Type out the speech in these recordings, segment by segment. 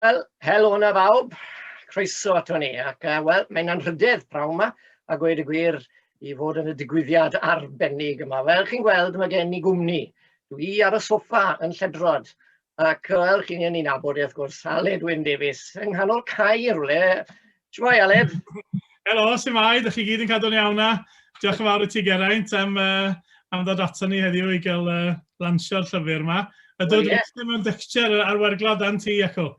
Wel, helo hwnna fawb, croeso ato ni, ac uh, wel, mae'n anrhydedd prawn yma, a gweud y gwir, i fod yn y digwyddiad arbennig yma. Fel chi'n gweld, mae gen i gwmni. Dwi i ar y soffa yn lledrod, ac fel chi'n ei nabod, wrth gwrs, Aled Wyn Davies, yng nghanol cae rhywle, Shwmae, Aled? Helo, shwmae, ydych chi gyd yn cadw'n iawn na? Diolch yn fawr i ti Geraint am, uh, am ddod ato ni heddiw i gael uh, lansio'r llyfr yma. A dod well, yeah. mewn dictiau ar werglo dan ti, Iaco.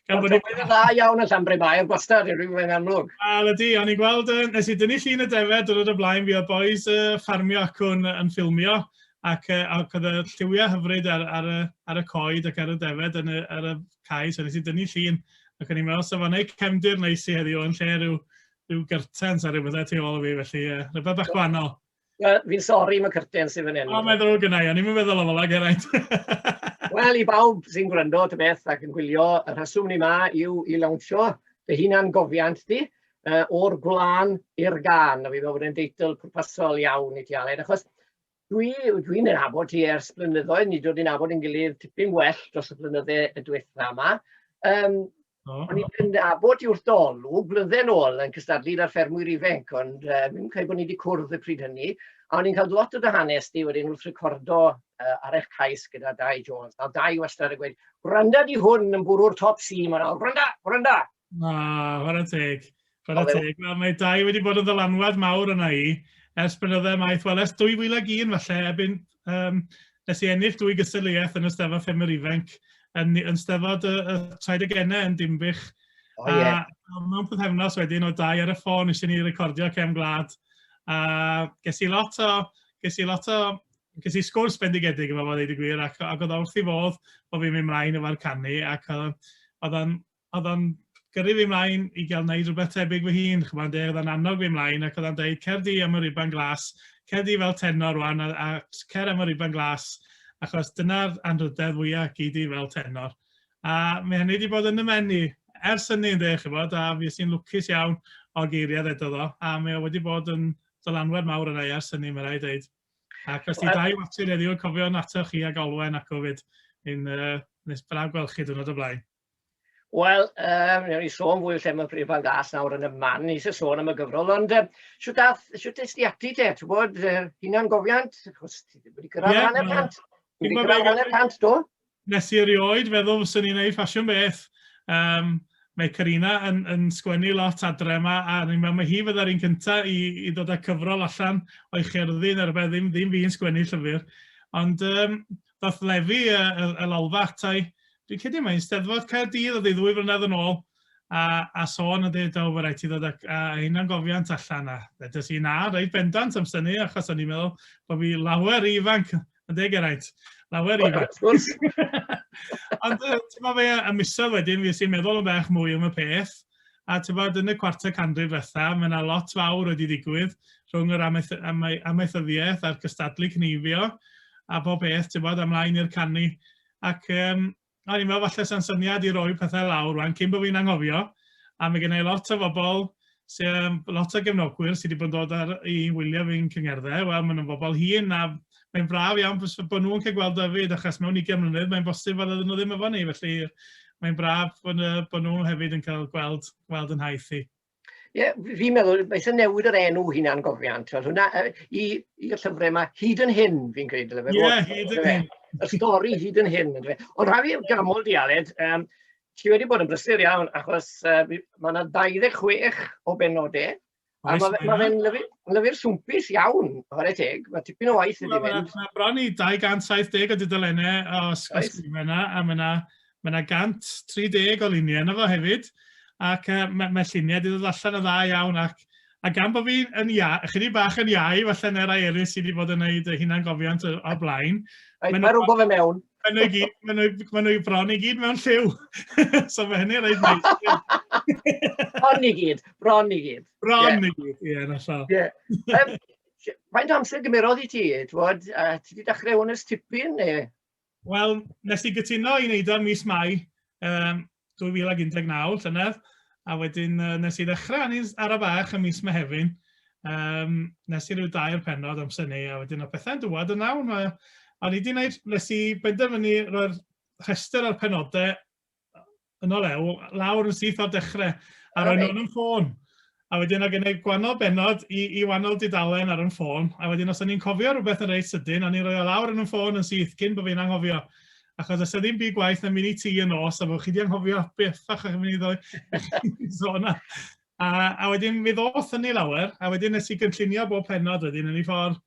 Gan bod ni'n dda iawn yn Llanbre Mair, gwastad, rwy'n mynd amlwg. Wel ydy, o'n i'n gweld, uh, nes i dynnu llun y defed, dod o blaen fi o boys uh, ffarmio ac yn, yn ffilmio ac, uh, ac oedd y lliwiau hyfryd ar, ar, y, ar y coed ac ar y defed yn y, ar y cae, so nes i dynnu llun. ac o'n i'n meddwl sa fo'n neud cefndir neis i heddiw yn lle rhyw, rhyw gyrtens a rhyw bethau tu ôl o fi, felly ie, rhywbeth bach gwahanol. Wel, fi'n sori mae cyrtens sydd fan hyn. O, mae'n ddrwg yna i, o'n i'n meddwl o fel ag eraint. Wel, i bawb sy'n gwrando ta beth ac yn gwylio, y rheswm ni ma yw i lawnsio dy hunan gofiant di, uh, o'r gwlân i'r gan, a fi fel bod yn deitl pwrpasol iawn i ti Aled, achos Dwi, dwi'n ei nabod ti ers blynyddoedd, ni dod i'n nabod yn gilydd tipyn well dros y blynydde y diwetha yma. Um, oh. O'n i'n nabod i wrth olw, blynydde'n ôl yn cystadlu ar ffermwyr ifanc, ond uh, mi'n cael bod ni wedi cwrdd y pryd hynny. A o'n i'n cael lot o dy hanes ti wedyn wrth recordo uh, ar eich cais gyda Dai Jones. A Dai wastad yn gweud, gwranda di hwn yn bwrw'r top si, mae'n awr, gwranda, gwranda. Na, chwarae teg. Chwarae teg, wel mae dau wedi bod yn ddylanwad mawr yna i, ers blynydde maith, wel ers 2001 falle, ebyn um, nes i ennill dwy gystadleuaeth yn y Steddfod Ffermwyr Ifanc, yn, yn Steddfod y, y Traedegennau yn Dimbych. Oh, yeah. A mewn pethefnos wedyn o dau ar y ffôn eisiau ni recordio cem glad. A ges i lot o, ges i lot o, ges i sgwrs bendigedig efo fod ei gwir ac, ac oedd wrth i fodd bod fi'n mynd mlaen efo'r canu ac oedd o'n oedd o'n gyrru fi mlaen i gael wneud rhywbeth tebyg fy hun, chwbl yn deg, oedd o'n annog fi mlaen ac oedd o'n dweud cer di am y riban glas, cer di fel tenor rwan a, a cer am y riban glas achos dyna'r anrhydedd fwya gei di fel tenor. A mae hynny wedi bod yn y men i ers hynny yn deg chi bod, a fi sy'n lwcus iawn o geiriad edo ddo, a mae o wedi bod yn dylanwad mawr yna i ers hynny, mae rai dweud. Ac os ti well, dau water heddiw, cofio nato chi ag Olwen ac o fyd, yn uh, nes braf gweld chi dwrnod o blaen. Wel, um, newn ni sôn fwy lle mae Prif Fan Gas nawr yn y man i eisiau sôn am y gyfrol, ond um, siwt ath, siwt es di ati te, ti'n bod, uh, hunan gofiant, chos ti wedi cyrraedd yeah, hanner cant, ti wedi cyrraedd hanner cant, do? Nes i erioed feddwl fy sy'n ni'n ei ffasiwn beth. Um, mae Karina yn, yn sgwennu lot adre yma, a ni'n meddwl mae hi fydda'r un cyntaf i, i ddod â cyfrol allan o'i cherddi, neu rhywbeth, ddim, ddim fi'n sgwennu llyfr. Ond um, ddathlefu y, y, y lalfa ata i. Dwi'n credu mae'n steddfod Caerdydd oedd ei ddwy flynedd yn ôl, a, a sôn yn dweud, o, fe rhaid ti ddod â, â hynna'n gofiant allan. A dydys i na, rhaid bendant am syni, achos o'n i'n meddwl bod fi lawer i ifanc, yn deg eraint. Lawer i ifanc. Ond ti'n meddwl fe, y misodd wedyn, fi sy'n meddwl yn bach mwy am y peth, A tybed, yn y cwarter canrif ddiwetha', mae 'na lot fawr wedi digwydd rhwng yr amaethyddiaeth a'r cystadlu cneifio a bob peth, tybed, a mlaen i'r canu. Ac um, o'n i'n meddwl falle sa'n syniad i roi pethau lawr rwan cyn bod fi'n anghofio, a mae gennau lot o bobl sy'n lot o gefnogwyr sydd wedi bod yn dod ar i wylio fi'n cyngerddau, wel maen nhw'n bobl hun a mae'n braf iawn bod nhw'n cael gweld Dyfed, achos mewn 20 mlynedd mae'n bosib fod nhw ddim efo ni, felly mae'n braf bod, bod nhw hefyd yn cael gweld, gweld yn haith i. Ie, yeah, fi'n meddwl, beth yn newid yr enw hynna'n gofiant. Wel, hwnna, i'r llyfrau yma, hyd yn hyn, fi'n creid. Ie, yeah, hyd yn hyn. Y stori hyd yn hyn. Ond rhaid fi gamol di, Aled, um, ti wedi bod yn brysur iawn, achos uh, mae yna 26 o benodau Mae fe, ma fe'n lyfu, lyfu'r swmpus iawn, chwarae teg. Mae tipyn o waith wedi mynd. Mae bron i 270 o dudalennau o ysgrifau yna, a mae yna, mae yna 130 o luniau yna fo hefyd. Ac uh, mae, mae lluniau wedi dod allan yn dda iawn ac A gan bod fi yn ia, chydig bach yn iau, falle na rai eraill sydd wedi bod yn gwneud hunan gofiant o'r blaen. Mae rhywbeth yn mewn. Mae nhw i gyd, mae nhw, mae nhw i bron i gyd mewn lliw. so mae hynny'n rhaid neis. bron i gyd, bron i gyd. Bron i gyd, ie, na llaw. Ie. Um, faint amser gymerodd i ti, twod, a ti wedi dechrau hwn ys tipyn, neu? Wel, nes i gytuno i wneud o'n mis Mai, um, 2019, llynedd, a wedyn uh, nes i ddechrau ni ar y fach ym mis Mehefin, um, nes i ryw dair penod amser ni, a wedyn o pethau'n dywod yn awn. Mae, o'n i wedi gwneud, nes i benderfynu roi'r rhestr o'r penodau yn ôl ew, lawr yn syth o'r dechrau, a roi'n nhw'n ffôn. a wedyn oedd gen i gwahanol bennod i, i wahanol dudalen ar yn ffôn, a wedyn os o'n i'n cofio rhywbeth yn reit sydyn, o'n i'n rhoi o lawr yn yn ffôn yn syth cyn bod fi'n anghofio. Achos os ddim byd gwaith na mynd i ti yn os, a fod chi wedi anghofio beth fach o'ch mynd i ddod sôn am. A, a wedyn mi ddoth hynny lawer, a wedyn nes i gynllunio bob pennod wedyn yn ei ffordd,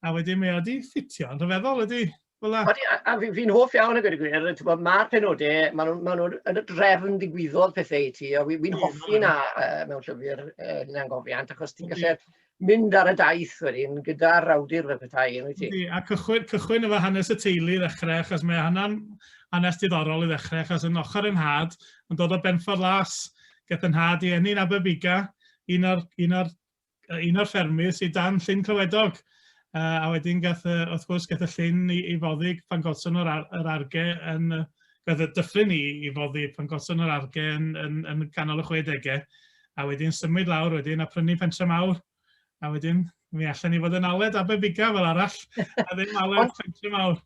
a wedyn mi oedd wedi ffitio'n rhyfeddol wedi. Fel a... Odi, a fi'n fi hoff iawn o gwir y gwir, ti'n mae'r penodau, maen nhw'n ma nhw yn y drefn ddigwyddodd pethau i ti, a fi'n fi hoffi na uh, mewn llyfr uh, hynna'n gofiant, achos ti'n gallu mynd ar y daith wedyn gyda'r awdur fel petai, yn wyt ti? A cychwyn, cychwyn efo hanes y teulu i ddechrau, achos mae hynna'n hanes diddorol i ddechrau, achos yn ochr yn had, yn dod o Benffordd Las, gath yn had i enni'n Aberbiga, un o'r, un o'r un o'r ffermydd sydd dan Llyn Clywedog. Uh, a wedyn gath, uh, wrth gwrs, gath y llyn i, i foddi pan godson yr, ar, yr arge yn... Uh, gath y dyffryn i, i foddi pan godson yr arge yn, yn, yn ganol y 60au. A wedyn symud lawr wedyn a prynu pentre mawr. A wedyn mi allan ni fod yn aled Aberbiga fel arall. A ddim aled pentre mawr.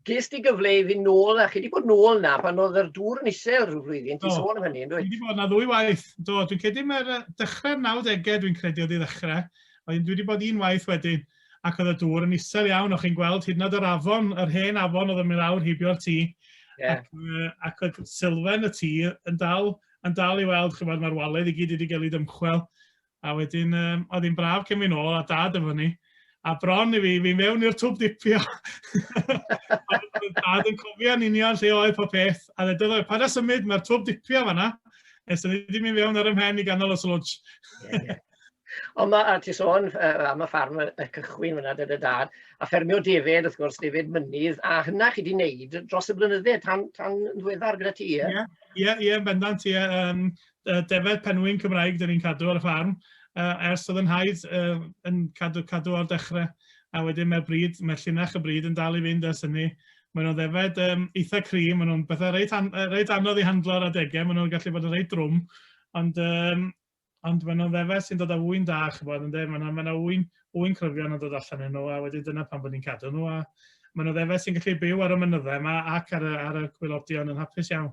Ges di gyfle i fynd nôl na, chi di bod nôl na pan oedd yr dŵr yn isel rhyw flwyddyn, ti'n sôn am hynny, yn dwi? Fi wedi bod na ddwy waith, do, dwi'n credu mae'r dechrau 90au dwi'n credu oedd i ddechrau, ond dwi wedi bod un waith wedyn, ac oedd y dŵr yn isel iawn, o'ch chi'n gweld hyd yn oed yr afon, yr hen afon oedd yn mynd awr heibio'r tŷ, yeah. ac, uh, ac oedd sylfaen y tŷ yn dal, yn dal i weld, chi'n mae'r waledd i gyd wedi cael ei dymchwel, A wedyn um, oedd hi'n braf cyn fi'n ôl a dad efo ni. A bron i fi, fi mewn i'r twb dipio. dad yn cofio yn union lle oedd pob peth. A dweud, oedd, pa da symud, mae'r twb dipio fanna. Nes o'n i wedi mynd fewn ar y mhen i ganol y slwtsh. yeah, yeah. Ond mae, a ti sôn uh, am y ffarm y, y cychwyn fyna, dyd y dad, a ffermio David, wrth gwrs, David Mynydd, a hynna chi wedi wneud dros y blynydde tan, tan ddweddar gyda ti, ie? Ie, ie, ie, bendant, ie. Um, Yy defaid penwyn Cymraeg dan ni'n cadw ar y ffarm yy ers oedd yn nhaid yy yn cadw cadw o'r dechrau a wedyn mae'r bryd mae llinach y bryd yn dal i fynd ers hynny. Mae nhw'n ddefaid um, eitha cri, mae nhw'n bethau reit, an, reit anodd i handlo ar adegau, mae nhw'n gallu bod yn reit drwm, ond um, ond maen nhw'n ddefed sy'n dod â wy'n da, chybod, yn dweud, maen nhw'n ma wy'n, wy'n cryfion yn dod allan yn nhw, a wedyn dyna pan bod ni'n cadw nhw, a maen nhw'n ddefed sy'n gallu byw ar y mynyddau yma ac ar y, ar y gwylodion yn hapus iawn.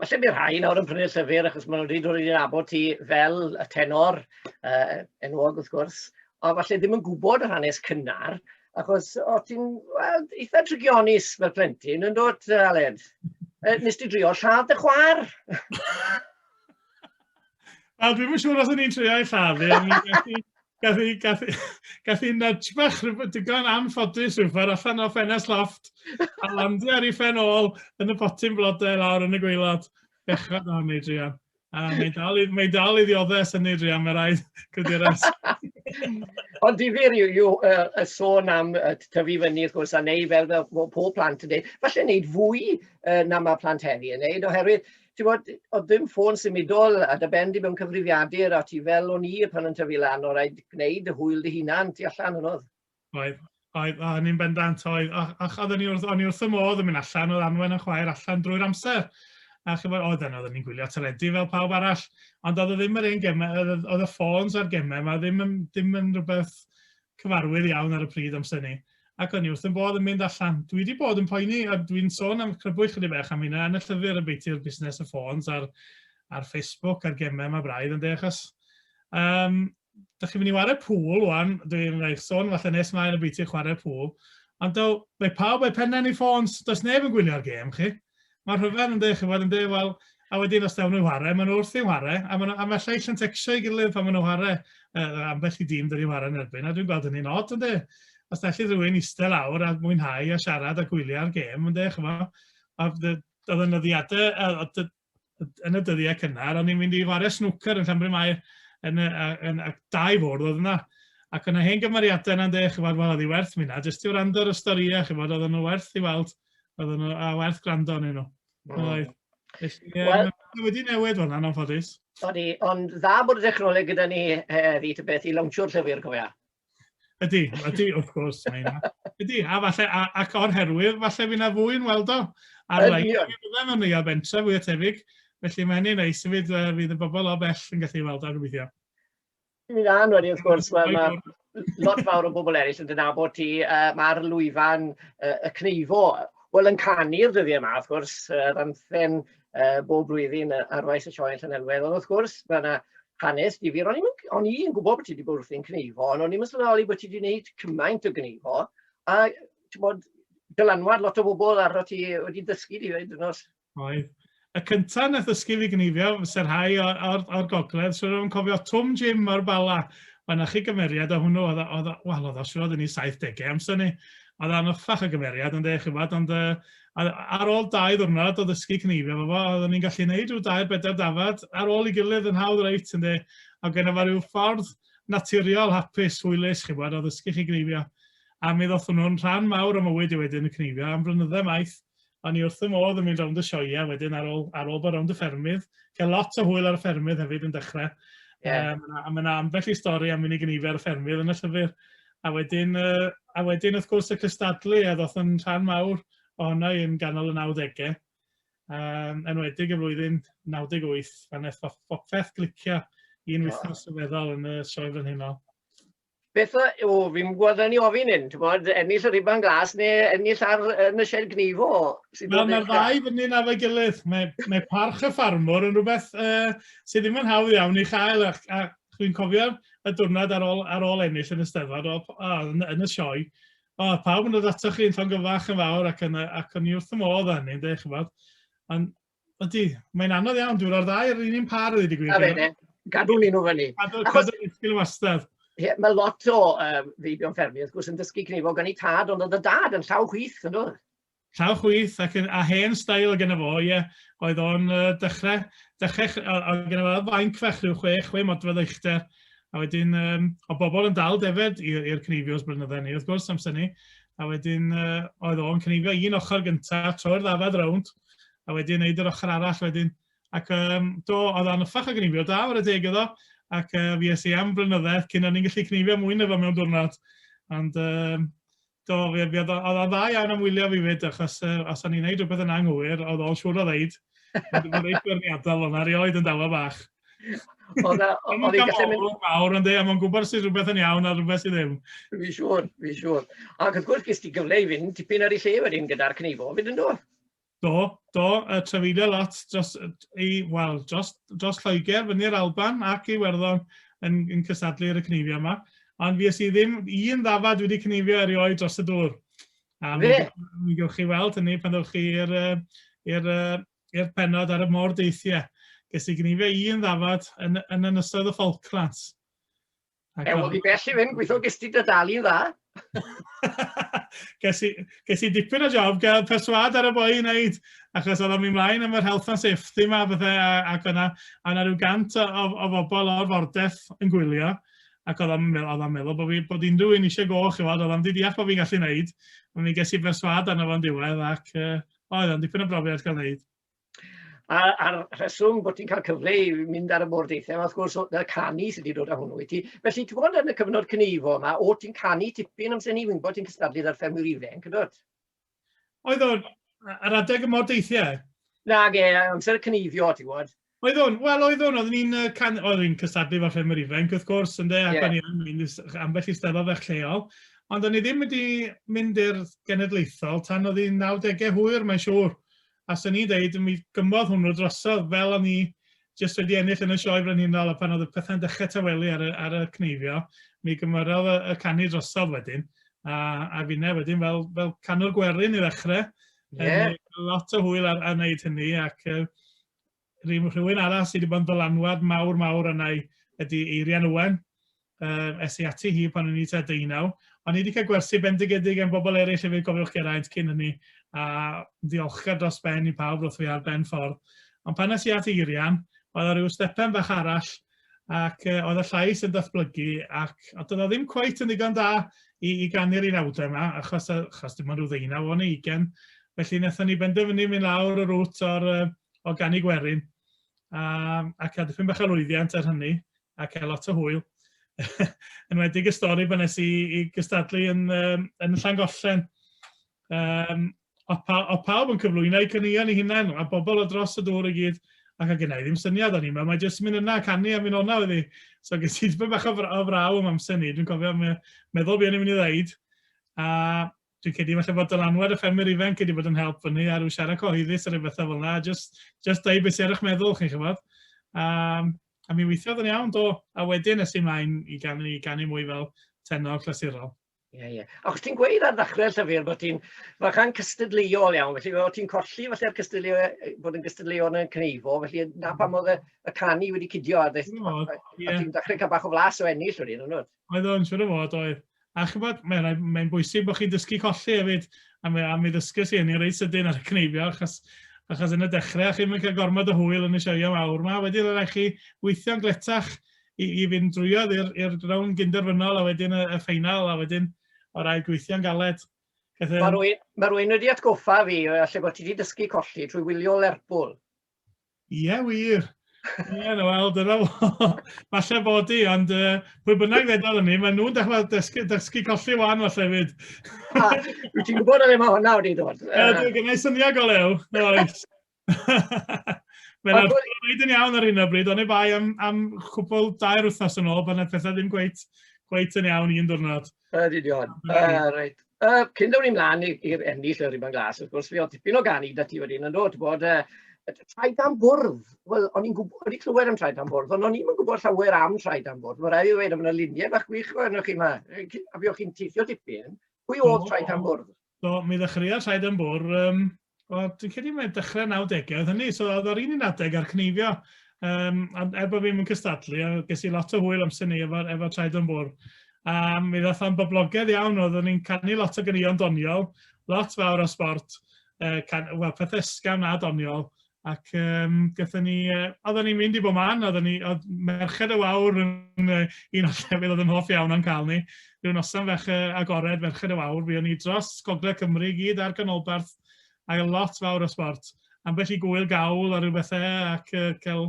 Falle bydd rhai nawr yn prynu'r llyfr achos maen nhw'n dweud ro'n i'n abod ti fel y tenor uh, enwog wrth gwrs, ond falle ddim yn gwybod yr hanes cynnar, achos o ti'n well, eitha trigionus fel plentyn yn dod, Aled? Uh, nes ti drio lladd dy chwar? A dwi'n siŵr os o'n i'n trio ei lladd i, Gath i, gath i, gath i nudge bach digon anffodus i'w ffordd allan o ffenest loft a landio ar ei phen ôl yn y potyn blodau lawr yn y gweilod. Bechod o'n ei drian. A mae dal, i, mae dal i ddioddau yn ei drian, mae rhaid cydures. Ond difyr yw, yw uh, y sôn am uh, tyfu fyny, wrth gwrs, a neu fel, fel pob plant yn dweud, falle wneud fwy uh, na mae plant heddi yn wneud, oherwydd ti'n bod, oedd ddim ffôn symudol a dy ben di mewn cyfrifiadur a ti fel o'n i pan o'n tyfu lan o rhaid gwneud y hwyl dy hunan ti allan yn oedd. Oedd, oedd, a ni'n bendant oedd, a, a oedd o'n i wrth, o'n i wrth y modd yn mynd allan, oedd anwen yn chwaer allan drwy'r amser. A chyfod, oedd yna, oedd ni'n gwylio teledu fel pawb arall, ond oedd e ddim yr un gemau, oedd y ffôns a'r gemau, mae ddim yn, ddim yn rhywbeth cyfarwydd iawn ar y pryd amser 'ny, ac o'n i wrth 'y bodd yn mynd allan. Dwi 'di bod yn poeni, a dwi'n sôn am crybwyll chydig bach am hynna yn y llyfr ambiti yr busnes y ffôns a'r a'r Facebook a'r gemau 'ma braidd ynde achos um, da chi'n mynd i ware pŵl wan, dwi'n rhaid sôn falle nes mlaen y bwyty chwarae pŵl, ond do, mae pawb, mae pennau ni ffôns, does neb yn gwylio'r gêm chi. Mae'r rhyfedd yn dweud, chi'n gwybod, yn dweud, wel, a wedyn os dawn nhw'n whare, maen nhw wrth i'n whare, a maen nhw, a mae llais yn tecsio i gilydd pan maen nhw'n whare, uh, ambell i dîm dyn ni'n whare yn erbyn, a dwi'n gweld hynny'n od, ynddo. Os da chi rhywun eistedd lawr a mwynhau a siarad a gwylio'r gêm, ynddo, chi'n gwybod, oedd y nyddiadau, yn y dyddiau cynnar, o'n i'n mynd i whare snwcer yn Llanbryn Mair, yn, yn, yn, yn dau fwrdd oedd yna, ac yna hen gymeriadau yna'n dweud, chi'n gwybod, wel, oedd hi werth mi yna, jyst i wrando ar y storïau, chi'n gwybod, oedd nhw werth i weld, Oedden nhw, a werth gwrando arnyn nhw. Oedd. Wel, wedi newid fanna, yn anffodus. O'n i, ond dda bod y dechnoleg gyda ni heddi, ta beth, i lawnsio'r llyfr, cofia. Ydy, ydy, wrth gwrs, mae yna. Ydy, a falle, a, ac o'r herwydd, falle fi na fwy'n weld o. Ar lein, fi byddem yn neuad bentre fwy o tebyg, felly mae'n ei neis fyd, uh, fydd y bobl o bell yn gallu weld o, gobeithio. Ti'n mynd lan wedyn wrth gwrs, ma' ma' lot fawr o bobl eraill yn dy nabod ti, yy ma'r lwyfan yy y Cneifo, wel yn canu'r dyddiau 'ma wrth gwrs, yr anthem yy bob blwyddyn yy ar faes y sioe yn Llanelwedd, ond wrth gwrs ma' 'na hanes difyr, o'n i'm yn o'n i yn gwbod bod ti 'di bod wrthi'n Cneifo, ond o'n i'm yn sylweddoli bod ti 'di neud cymaint o Gneifo, a t'mod dylanwad lot o bobl arnot ti wedi dysgu di 'fyd on'd o's? Oedd. Y cyntaf nath ddysgu fi gneifio, fyse'r rhai o'r, o'r, or gogledd, siwr o'n cofio Twm Jim o'r Bala. Mae yna chi gymeriad o hwnnw, oedd, oedd, wel, oedd o siwr oedd yn ei 70au amser ni. Oedd o'n uffach y gymeriad, ond eich chi'n fawr, ond ar ôl dau ddwrnod o ddysgu cneifio fo fo, oedd o'n i'n gallu gwneud rhyw dair bedair dafad ar ôl i gilydd yn hawdd reit, ynddi. A gyda fo rhyw ffordd naturiol, hapus, hwylus, chi'n fawr, o ddysgu chi gneifio. A mi ddoth hwnnw'n rhan mawr o mywyd i wedyn y cneifio am flynyddau maith O'n i wrth fy modd yn mynd rownd y sioeau wedyn ar ôl ar ôl bod rownd y ffermydd. Cael lot o hwyl ar y ffermydd hefyd yn dechrau. Ie. Yy ma' 'na a ma' 'na ambell i stori am unig yn ar y ffermydd yn y llyfr. A wedyn yy a wedyn wrth gwrs y cystadlu a ddoth yn rhan mawr ohono i yn ganol y nawdege. Yym enwedig y flwyddyn 98 pan neth pop- popeth glicio un wythnos sylweddol yn y Sioe Frenhinol. beth o, o fi'n gwybod yn ei ofyn hyn, ti'n bod, ennill y rhifan glas neu ennill ar yn y sied gnifo. Wel, mae'r ddau fyny na fe gilydd. Mae, mae parch y ffarmwr yn rhywbeth uh, sydd ddim yn hawdd iawn i chael, a, a dwi'n cofio y diwrnod ar ôl, ar ôl ennill yn y steddfod, yn, yn y sioe, o, pawb yn dod ato chi yn llongyfach yn fawr ac, yn, ac o'n i wrth y modd â hynny, yn dweud, chybod. Ond Ydy, mae'n anodd iawn, dwi'n rhoi'r ddau ar yr un par o ddweud y A fe, gadw ni nhw fyny. Cadw, cadw ni sgil wastad. Ie, mae lot o um, feibion ffermio, wrth gwrs, yn dysgu cnefo gan ei tad, ond oedd y dad yn llaw chwith, yn dod? Llaw chwith, ac yn, a hen stael o gyda fo, ie, oedd o'n uh, dechrau, dechrau, oedd gyda fo fainc fach rhyw chwe, chwe modfedd eichter, a wedyn um, o bobl yn dal defed i'r cneifio os blynyddoedd ni, wrth gwrs, amser ni, a wedyn uh, oedd o'n cneifio un ochr gyntaf, troi'r ddafad rownd, a wedi wneud yr ochr arall wedyn. Ac um, do, oedd o'n ffach o gnifio da, o'r adeg iddo, ac uh, fi es i am flynydde cyn o'n i'n gallu gnifio mwy na fo mewn diwrnod. Ond um, do, fi, fi, oedd o'n dda iawn am wylio fi fyd, achos uh, os o'n i'n neud rhywbeth yn anghywir, oedd o'n siŵr o ddeud, ond dwi'n rhaid gwirniadol o'na, rioed yn dawa bach. Oedd o'n gallu mynd... mawr, ond dweud, mae'n gwybod sydd rhywbeth yn iawn a rhywbeth sydd ddim. Fi siŵr, fi siŵr. Ac wrth gwrs, gys ti gyfle i fynd tipyn ar ei lle wedyn gyda'r cnifo, fyd yn do? Do, do, y trafeilio lot dros, ei, wel, dros, dros Lloegr, fyny'r Alban ac i Werddon yn, yn cysadlu ar y cnifio yma. Ond fi ys i ddim un ddafad wedi cnifio erioed dros y dŵr. A mi, mi gewch chi weld hynny pan ddewch chi i'r uh, i'r pennod ar y môr deithiau. Ges i gnife un ddafad yn, yn ynysoedd y Falklands. Ac Ew, oedd i bell i fynd, gweithio ges ti dy dalu'n dda. ges, i, ges i dipyn o job, gael perswad ar y boi i wneud, achos oedd o'n mynd mlaen am yr health and safety yma, bethau, ac o'na, o'na rhyw gant o, o, o bobl o'r fordeth yn gwylio, ac oedd o'n meddwl, meddwl bod, fi, bod unrhyw un eisiau go, chi fod, oedd o'n di deall bod fi'n gallu wneud, ond mi ges i berswad arno fo'n diwedd, ac uh, O, iawn, dipyn o brofiad cael neud. A'r, ar rheswm bod ti'n cael cyfle i mynd ar y môr deithiau, wrth gwrs, y canu sydd wedi dod â hwnnw i ti. Felly, ti'n bod yn y cyfnod cynifo yma, o ti'n canu tipyn amser ni, wy'n bod ti'n cystadlu ar ffermwyr ifanc, yn dod? Oedd o'r, ar adeg y môr deithiau? Na, ge, amser y cynifio, ti'n gwybod. Oeddwn, wel oeddwn, oeddwn i'n uh, can... oeddwn i'n cystadlu fel llenwyr ifanc wrth gwrs, yn de, ac yeah. o'n i yn mynd ambell i steddfod fach lleol, ond o'n i ddim wedi mynd i'r genedlaethol tan oedd hi'n 90au hwyr, mae'n siŵr. A sy'n ni'n dweud, mi gymodd hwnnw drosodd fel o'n i jyst wedi ennill yn y sioe frenhinol, a pan oedd y pethau'n dechrau tawelu ar y, ar y cneifio, mi gymoraodd y, y canu drosodd wedyn, a, a finne wedyn fel, fel canwr gwerin i ddechrau, yeah. lot o hwyl ar, ar wneud hynny, ac uh, rhyw, rhywun arall sydd wedi bod yn ddylanwad mawr mawr yna ydy Eirian Owen, uh, es i ati hi pan o'n i tua deunaw, ond ni wedi cael gwersi bendigedig am bobl eraill hefyd gofiwch Geraint cyn hynny, a ddiolchgar dros ben i pawb roedd fi ar ben ffordd. Ond pan nes i at Eirian, oedd o rhyw stepen fach arall ac yy oedd y llais yn datblygu ac a doedd o ddim cweit yn ddigon da i i ganu'r unawdau yma achos yy achos dim ond rhyw ddeunaw o'n i ugen felly wnaethon ni benderfynu mynd lawr y rŵt o'r yy o ganu gwerin a ac a dipyn bach o lwyddiant ar hynny ac a lot o hwyl yn wedi y stori pan nes i i gystadlu yn yym yn Llangollen yym A, pa, a pawb yn cyflwyno eu caneuon i hunain, a bobl o dros y dŵr i gyd, ac a gennau ddim syniad o'n i'n meddwl, mae jyst yn mynd yna, canu a mynd o'na oedd hi. So ges i dipyn bach o, o fraw am amser ni, dwi'n cofio me, meddwl beth o'n i'n mynd i ddeud, a dwi'n cedi falle bod dylanwad y ffermwyr ifanc wedi bod yn help fyny a rhyw siarad cyhoeddus ar rhywbeth fel yna, just, just dweud beth sy'n ar eich meddwl chi'n chyfod. Um, a mi weithiodd yn iawn do, a wedyn nes i mlaen i ganu, i ganu mwy fel tenor clasurol. Ie, ie. Ac ti'n gweud ar ddechrau'r llyfr bod ti'n fachan cystadleuol iawn, felly o't ti'n colli falle'r cystadleu- yy bod yn gystadleuol yn y Cneifo, felly 'na pam oedd y y canu wedi cidio a ddaeth... O, ie. ...a ti'n dechrau cael bach o flas o ennill wedyn, yn dwyt? Oedd o'n siŵr o fod oedd. A ch'mod mae'n rhaid mae'n bwysig bod chi'n dysgu colli hefyd a mi a mi ddysges i hynny reit sydyn ar y Cneifio achos achos yn y dechrau chi'm yn cael gormod o hwyl yn y sioeau mawr 'ma, wedyn rhaid chi weithio'n gletach i, i fynd drwyodd i'r rown gynderfynol a wedyn y, y ffeinal a wedyn o rai gweithio'n galed. Felly... Mae rwy'n ma rwy'n wedi atgoffa fi o allu bod ti wedi dysgu colli trwy wylio Lerpwl. Ie, yeah, wir. Ie, yeah, wel, dyna fo. Falle bod i, ond uh, pwy bynnag ddedal ni, maen nhw'n dechrau dysgu, dysgu colli wan falle fyd. Wyt ti'n gwybod oedd yma hwnna wedi dod? Ie, dwi'n gynnau syniad o lew. Oes. Mae'n Wel, dwi- arbennig yn iawn ar hyn o bryd, ond ei bai am, am chwbl dair wythnos yn ôl, pan oedd pethau ddim gweith, gweith yn iawn i un diwrnod. Yr union. Uh, reit. Uh, cyn dod ni'n mlaen i'r ennill y rhywbeth glas, wrth gwrs, fi oedd tipyn o ganu da ti wedyn yn dod, bod uh, traed am bwrdd. Wel, o'n i'n gwybod, o'n i'n clywed am traed am bwrdd, ond o'n i'n gwybod llawer am traed am bwrdd. Mae rhaid i ddweud, yna luniau bach gwych o'n chi yma. A fi o'ch chi'n teithio dipyn. Pwy oedd traed am bwrdd? So, mi ddechreuodd rhaid yn bwr, um, o, dwi'n credu mae'n dechrau 90au oedd hynny, so oedd ar un i'n adeg ar cneifio, um, er bod fi'n mynd cystadlu, a ges i lot o hwyl amser ni efo, efo traed yn bwr. A mi ddath o'n boblogaidd iawn, oeddwn ni'n canu lot o gynion doniol, lot fawr o sport, uh, can, well, pethau ysgam na doniol, Ac um, gyda ni, uh, oedden ni'n mynd i bob man, oedden ni, oedd merched y wawr yn uh, un o'r llefydd oedd yn hoff iawn o'n cael ni. Rhyw noson fech uh, agored, merched y wawr, fi o'n i dros Gogledd Cymru i gyd ar ganolbarth, a lot fawr o sport. Ambell i gwyl gawl a rhyw bethau ac uh, cael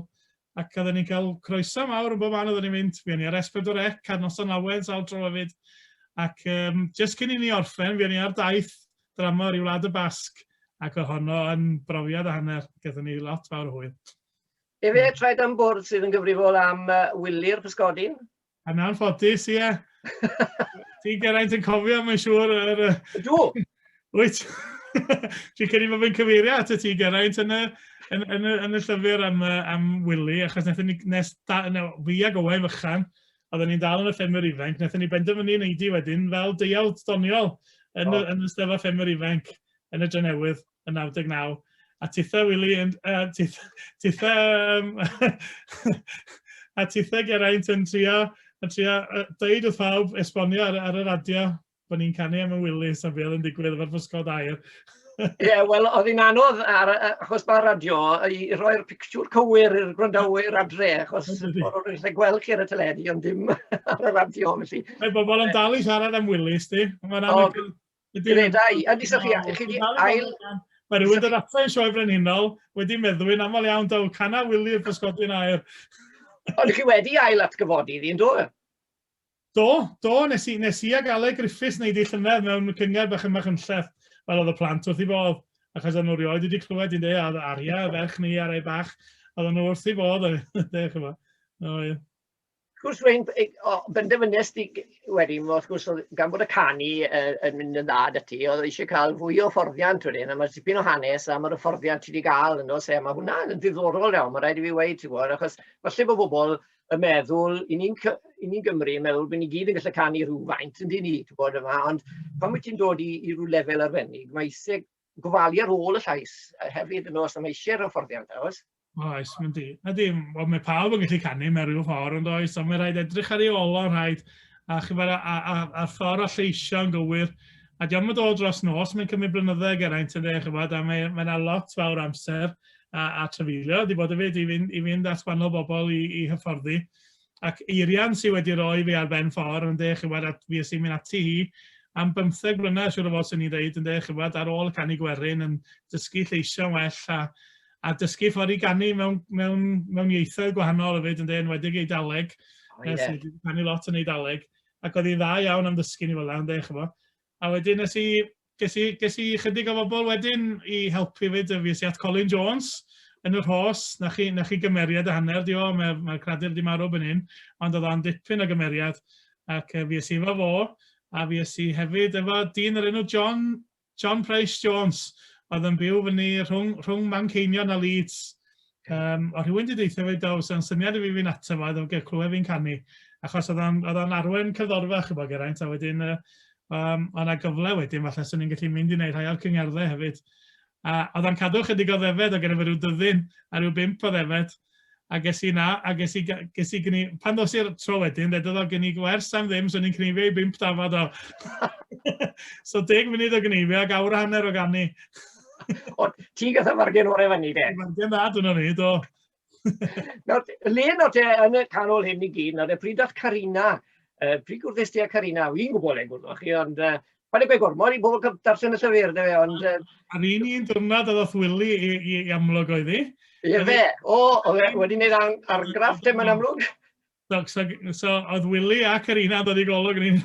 Ac oedden ni'n cael croeso mawr yn bob man oedden ni'n mynd, fuon ni ar S4C ar noson lawen sawl tro hefyd. Ac um, just cyn i ni orffen, fuon ni ar daith drama o'r i Wlad y Basg, ac oedd honno yn brofiad a hanner, gyda ni lot fawr o hwyl. Efe, traed am bwrdd sydd yn gyfrifol am uh, wyli'r pysgodyn, Yn anffodus, ie. Ti'n Geraint yn cofio, mae'n siŵr. Yr... Ydw. Wyt. Dwi'n credu bod fi'n cyfeirio at y ti Geraint yn y, yn, yn, y, yn y llyfr am, am Willy, achos nes, ni, nes da, no, fi ag Owain fychan, oedden ni'n dal yn y ffermwyr ifanc, nes ni benderfynu yn eidi wedyn fel deiawd doniol yn, oh. y, yn y stefa ffermwyr ifanc yn y Drenewydd. yn 99, a tithe Wili yn... Uh, tithe... tithe um, a tithe Geraint yn trio, yn trio uh, dweud wrth pawb esbonio ar, ar y radio bod ni'n canu am y Wili, sa'n fel yn digwydd efo'r fysgod air. Ie, yeah, wel, oedd hi'n anodd, ar, achos mae'r radio, i roi'r pictiwr cywir i'r gwrandawyr adre, achos o'r o'r eisiau gweld chi ar y teledu, ond dim ar y radio, felly. Mae bobl yn dal i siarad am Willis, di. Mae'n anodd... Gredai, a ddiswch chi, chi di ail... Mae rhywun dod ato i'n sioe brenhinol wedi meddwi'n aml iawn daw canna wili i'r pysgodyn aer. Ond chi wedi ail atgyfodi ddi'n do? Do, do, nes i, nes i ag Ale Griffiths wneud ei llynedd mewn cyngerdd bach ymach yn lleth, fel oedd y plant wrth i fodd, achos oedd nhw rioed wedi clywed i'n dweud, a oedd Aria, y ferch ni ar ei bach, oedd nhw wrth i fodd, dweud, chymod. No, ie. Wrth gwrs wedyn ei- o benderfynes di g- wedyn wrth gwrs o'dd gan bod y canu yy yn mynd yn dda da ti o'dd e isie ca'l fwy o hyfforddiant wedyn a ma' tipyn o hanes a ma'r hyfforddiant ti di ga'l yn do's e a ma' hwnna yn ddiddorol iawn ma' raid i fi weud ti wbod achos falle bo' bobol yn meddwl i ni'n cy- i ni'n Gymry yn meddwl bo' ni gyd yn gallu canu rhywfaint yndyn ni t'wbod yma ond pan wyt ti'n dod i i ryw lefel arbennig ma' isie gofalu ar ôl y llais yy hefyd yno os na ma' isie'r hyfforddiant na oes? Oes, mae'n di. Ydy, wel, mae pawb yn gallu canu mewn rhyw ffordd ond oes, ond mae'n rhaid edrych ar ei olo, rhaid, a chyfer a, a, a, a ffordd a lleisio yn gywir. A diolch yn dod dros nos, mae'n cymryd blynydde geraint yn dweud, chyfod, a mae yna lot fawr amser a, a trefeilio, di bod hefyd i fynd, i fynd at wahanol bobl i, i hyfforddi. ac Eirian sydd wedi rhoi fi ar ben ffordd yn de chywed at fi sy'n mynd ati hi am bymtheg mlynedd siwr o fod sy'n ni'n dweud yn de chywed ar ôl canu gwerin yn dysgu lleisiau well a, a dysgu ffordd i ganu mewn, mewn, mewn ieithoedd gwahanol hefyd yn de yn wedig ei daleg oh, yeah. sydd wedi canu lot yn ei daleg ac oedd hi'n dda iawn am ddysgu ni fel yna yn de chywed a wedyn nes i Ges i, ges i chydig o bobl wedyn i helpu fyd, y fys i at Colin Jones yn y rhos, na chi, na chi gymeriad a hanner di o, mae'r mae cradur di marw byn hyn, ond oedd o'n dipyn o gymeriad, ac y fys i efo fo, a fys i hefyd efo dyn yr enw John, John Price Jones, oedd yn byw fyny rhwng, rhwng Manceinion a Leeds, Yym, o' rhywun 'di deutha fi do, fysa'n syniad i fi fynd ato fo iddo gael clywed fi'n canu, achos oedd o'n oedd o'n arwen cerddorfa ch'bo' Geraint a wedyn yy yym o' 'na gyfle wedyn falle swn i'n gallu mynd i wneud rhai o'r cyngerddau hefyd. A oedd o'n cadw chydig o ddefed, o' gynno fe ryw dyddyn a ryw bump o ddefed, a ges i 'na a ges i ges i gni- pan ddos i'r tro wedyn ddedodd o gen i wers am ddim swn i'n cneifio i bump dafad o! so deg munud o gneifio ac awr a hanner o ganu. Ond ti gath y fargen o'r efo ni, de? Fargen dda, dyna ni, do. Nawr, le nawr te, yn y canol hyn i gyd, nawr, pryd oedd Carina, uh, pryd gwrddys ti a Carina, fi'n gwybod le gwrddwch chi, ond uh, pan y gwe gormod i bobl darllen y llyfr, de, ond... Uh, Ar un i'n dyrnad oedd Wili i, i, i amlwg oedd hi. Ie fe, o, oedd e wedi gwneud argraff te mae'n amlwg. So, so, so oedd Willie ac yr un dod i golwg yn un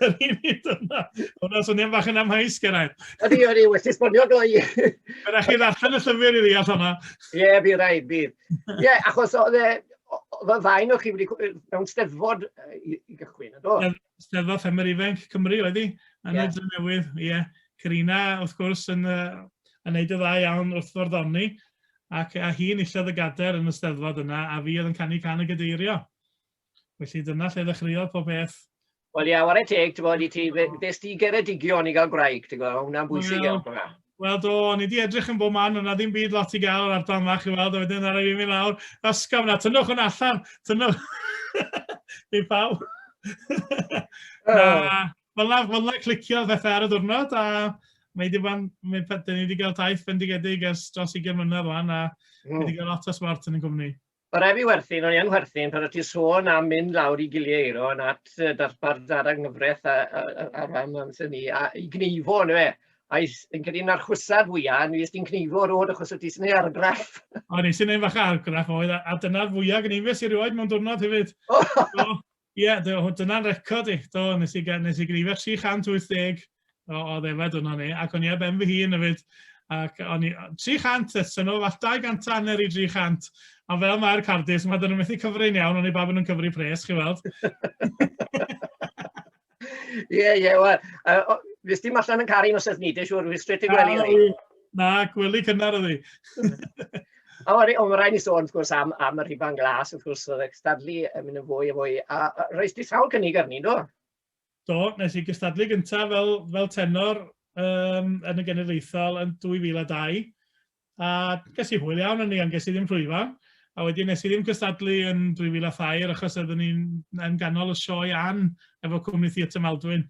Yr un i dyna. Hwna swnio'n bach yn amhaus, Geraint. Ydy, ydy, wedi esbonio gloi. Fe rhaid chi ddarllen y llyfr i ddeall hwnna. Ie, yeah, bydd rhaid, bydd. Ie, yeah, achos oedd e, oedd y ddain o'ch chi wedi mewn steddfod i gychwyn, ydo? Steddfod Ffermwyr Ifainc Cymru oedd hi, yn yeah. y Drenewydd, ie. Yeah. Carina, wrth gwrs, yn, uh, yn neud y dda iawn wrth forddoni, ac a hi'n illodd y gader yn y steddfod yna, a fi oedd yn canu can y gadeirio. Felly dyna lle ddechreuodd pob beth. Wel ia, yeah, ware teg, ti'n bod, i ti, ddys ti geredigion i gael gwraig, ti'n gwybod, hwnna'n bwysig iawn. Well, Wel do, o'n i wedi edrych yn bob man, ond na ddim byd lot i gael o'r ardal yma, chi weld, a wedyn ar ei mynd lawr, ysgaf na, tynnwch yn allan, tynnwch. Dwi'n pawb. na, fel na, fel na clicio bethau ar y diwrnod, a mae wedi bod, mae wedi cael taith bendigedig ers dros 20 mlynedd rwan, a mm. wedi cael lot o smart yn y cwmni. Ma rai fi werthin, o'n i yn werthin, pan o't ti sôn am mynd lawr i giliau eiro yn at yy, darpar dar a nghyfraith a a a a rhan o'n syn ni, a i gneifo on'd yfe? A i s- fi'n credu 'na'r chwysar fwya yn fues ti'n cneifo rownd achos o't ti sy'n ei argraff. O'n i sy'n neud fach o argraff oedd a a dyna'r fwya gneifes i rioed mewn diwrnod hefyd. So Ie, dyna'n record i. Do, nes i, nes i greifio 380 o, o ddefed yno ni, ac o'n i ar ben fy hun hefyd. Ac o'n i, 300, sy'n o fath 200 anner i 300. A fel mae'r cardis, mae dyn nhw'n methu cyfrin iawn, o'n i bab yn nhw'n cyfri pres, chi weld. Ie, ie, wel, uh, nes dim allan yn caru nos ethnidish, o'r straight i gwely. Na, gwely cynnar oedd hi. O, mae rhaid ni sôn, wrth gwrs, am, am y rhifan glas, wrth gwrs, oedd gystadlu yn mynd yn fwy a fwy. A, a reis di sawl cynnig arni, do? Do, nes i gystadlu gyntaf fel, fel tenor um, yn y genedlaethol yn 2002. A ges i hwyl iawn yn ni, ond ges i ddim rhwyfan. A wedyn nes i ddim cystadlu yn 2003 achos oeddwn ni'n yn ganol y sioe an efo cwmni Theatr Maldwyn.